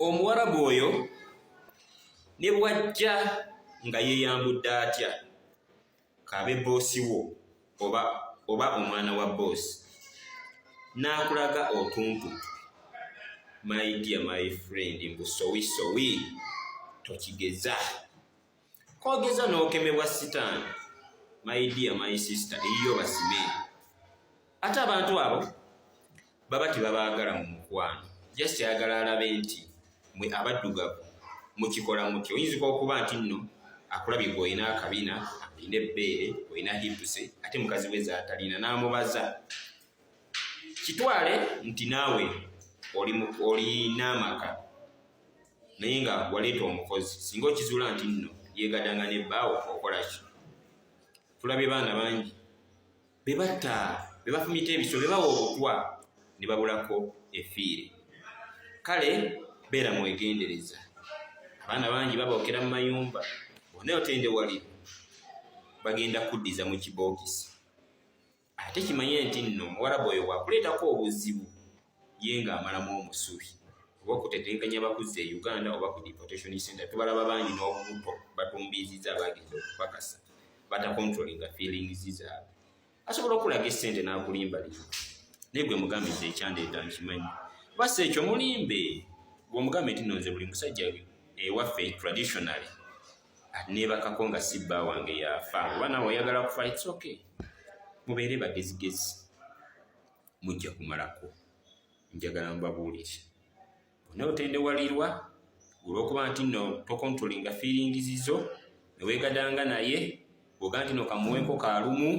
omuwarabu oyo ne bwajja nga yeyambudde atya kabe boosi wo oba oba omwana wa boosi n'akulaga otuntu my dear my friend mbu sowi sowi tokigeza kogeza nokemebwa sitaani my dear my sister eyiyo basime ate abantu abo baba tebabaagala mu mukwano just ayagala alabe nti mwe abaddugavu mukikola mutya oyinzika okuba nti nno akulabye gwe olina akabina olina ebbeere olina hipuse ate mukazi we zatalina n'amubaza kitwale nti naawe olina amaka naye nga waleeta omukozi singa okizuula nti nno yegadanga ne bbaawo okolaki tulabye baana bangi bebatta bebafumita ebiso bebawa obutwa ne babulako efiire kale beera mwegendereza abaana bangi babookera mu mayumba bona otendewalire bagenda kuddiza mu kibookisi ate kimanye nti nno omuwarabu oyo wakuleetako obuzibu ye nga amalamu omusubi oba okutetenkanya bakuzza e uganda oba ku deportation center tubalaba bangi n'obubuto batumbiiziza abagiriza okupakasa batakontrolinga feelings zaabwe asobola okulaga esente n'akulimbalira naye gwe mugambiza ekyandeeta nkimanyi basa ekyo mulimbe gweomugambe nti nonze buli musajja ewaffe traditionally nebakako nga si bba wange yafa oba nawe oyagala kufa its ok mubeere bagezigezi mujja kumalako njagala mubabuulire bonna otendewalirwa olwokuba nti no tokontrolinga fiiringizizo newegadanga naye oga nti nokamuweko kalumu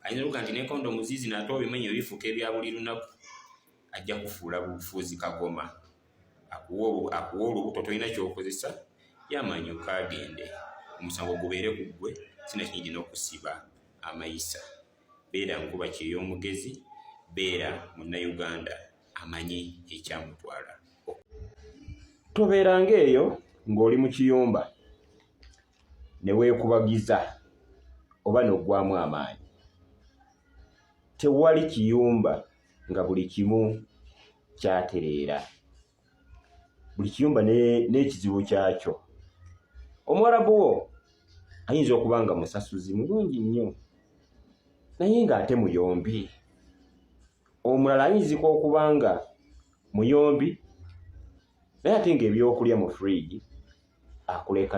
ayinza luga nti nekondo muzizi nate obimenyo bifuuka ebya buli lunaku ajja kufuula bufuuzi kagoma akuwa olubuto tolina kyokozesa yamanyi okagende omusango gubeere ku ggwe sinakinyidi n'okusiba amayisa beera nkuba kyey'omugezi beera munnayuganda amanyi ekyamutwala tobeeranga eyo ng'oli mu kiyumba ne weekubagiza oba n'oggwamu amaanyi tewali kiyumba nga buli kimu kyatereera buli kiyumba n'ekizibu kyakyo omuwarabu wo ayinza okuba nga musasuzi mulungi nnyo naye ng'ate muyombi omulala ayinzika okuba nga muyombi naye ate ng'ebyokulya mu fridge akuleka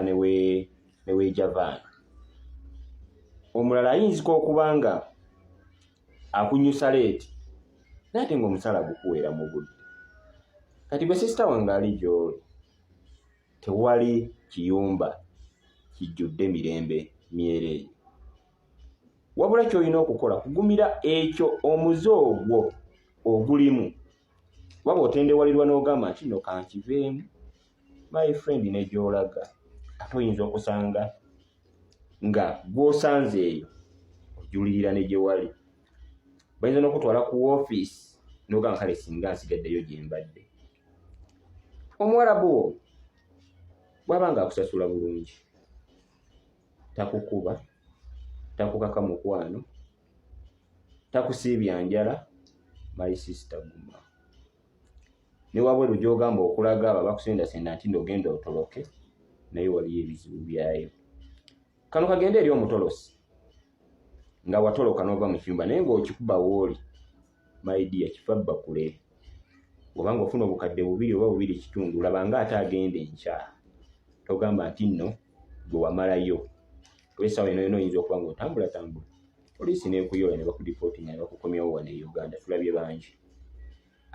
neweejavaana omulala ayinzika okuba nga akunyusa leeti naye ate ngaomusala gukuweera mu budde kati gwe sisita wange ali gyoli tewali kiyumba kijjudde mirembe myereeyi wabula kyolina okukola kugumira ekyo omuze ogwo ogulimu waba otendewalirwa n'ogamba nti no kankiveemu my friend ne gyolaga ate oyinza okusanga nga gwosanze eyo ojulirira ne gyewali bayinza n'okutwala ku ofiisi nogamba kale singa nsigaddeyo gye mbadde omuwarabu wo bwaba nga akusasula bulungi takukuba takukaka mukwano takusiibya njala my sister guma ne wabweru gy'ogamba okulaga abo abakusendasenda nti nti ogenda otoloke naye waliyo ebizibu byayo kano kagende eri omutolosi nga watoloka n'ova mu kiyumba naye ng'okikuba wooli maidiya kifa bbakule oba ng'ofuna obukadde bubiri oba bubiri kitundu laba nga ate agenda enkya togamba nti nno gwe wamalayo olwesaawa eno yona oyinza okuba ng'otambulatambula poliisi n'ekuyoola ne bakudipootinga ne bakukomyawo wano e uganda tulabye bangi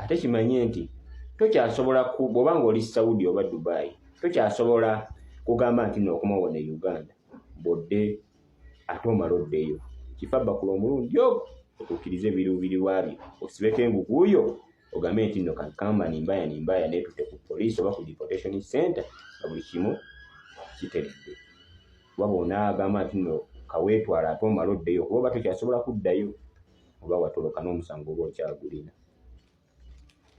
ate kimanye nti tokyasobola bwoba nga oli saudi oba dubai tokyasobola kugamba nti nookomawo ne uganda bodde ate omala oddeyo kifa bakula omulundi ogo otuukirize ebiruubirirwa bye osibeko enguguuyo ogambe nti no kankamba nimbaya nimbaya neetute ku poliisi oba ku deportation center nga buli kimu kiteredde waba onaagamba nti no kaweetwala ate omala oddeyo kuba oba tokyasobola kuddayo oba watoloka n'omusango oba okyagulina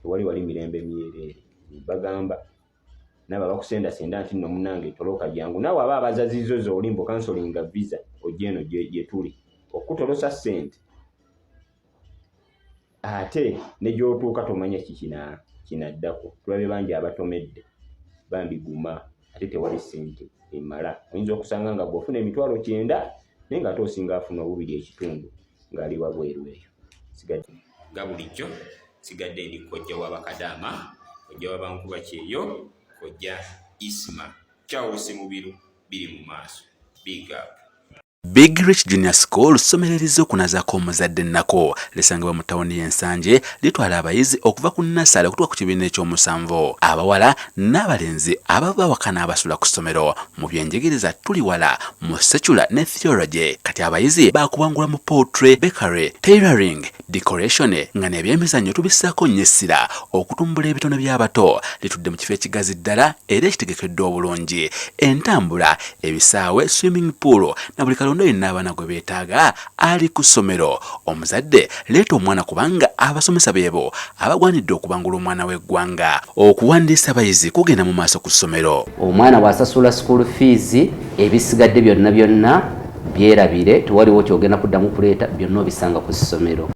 tewali wali mirembe myereere bagamba nabo abakusendasenda nti no munange toloka jangu nawe aba abazazizo zolimbo kansolinga visa ojja eno gyetuli okutolosa sente ate negyotuuka tomanya kikina kinaddako tulabye bangi abatomedde bambi guma ate tewali sente emala oyinza okusanga nga gweofuna emitwalo kyenda naye nga ate osinga afuna obubiri ekitundu ng'ali wabweru eyo sigadde nga bulijjo sigadde ndi kojja wa bakadaama kojja wa bankuba kyeyo kojja isma charles mubiru biri mu maaso big up Big Rich Junior School ssomero erizze okunazaako omuzadde nnako lisangibwa mu tawuni y'ensanje litwala abayizi okuva ku nnasale okutuka ku kibiina eky'omusanvu abawala n'abalenzi ababa bawakana abasula ku ssomero mu byenjigiriza tuli wala mu secula ne theology kati abayizi bakuwangula mu poultry bakery tailoring decoration nga nebyemizannyo tubissaako nnyo essira okutumbula ebitone by'abato litudde mu kifo ekigazi ddala era ekitegekeddwa obulungi entambula ebisaawe swimming pool na buli kalonda yenna abaana gwe beetaaga ali ku ssomero. Omuzadde leeta omwana kubanga abasomesa beebo abagwanidde okubangula omwana w'eggwanga. Okuwandiisa abayizi kugenda mu maaso ku ssomero. Omwana bw'asasula school fees ebisigadde byonna byonna byerabire tewaliwo kyogenda kuddamu kuleeta byonna obisanga ku ssomero.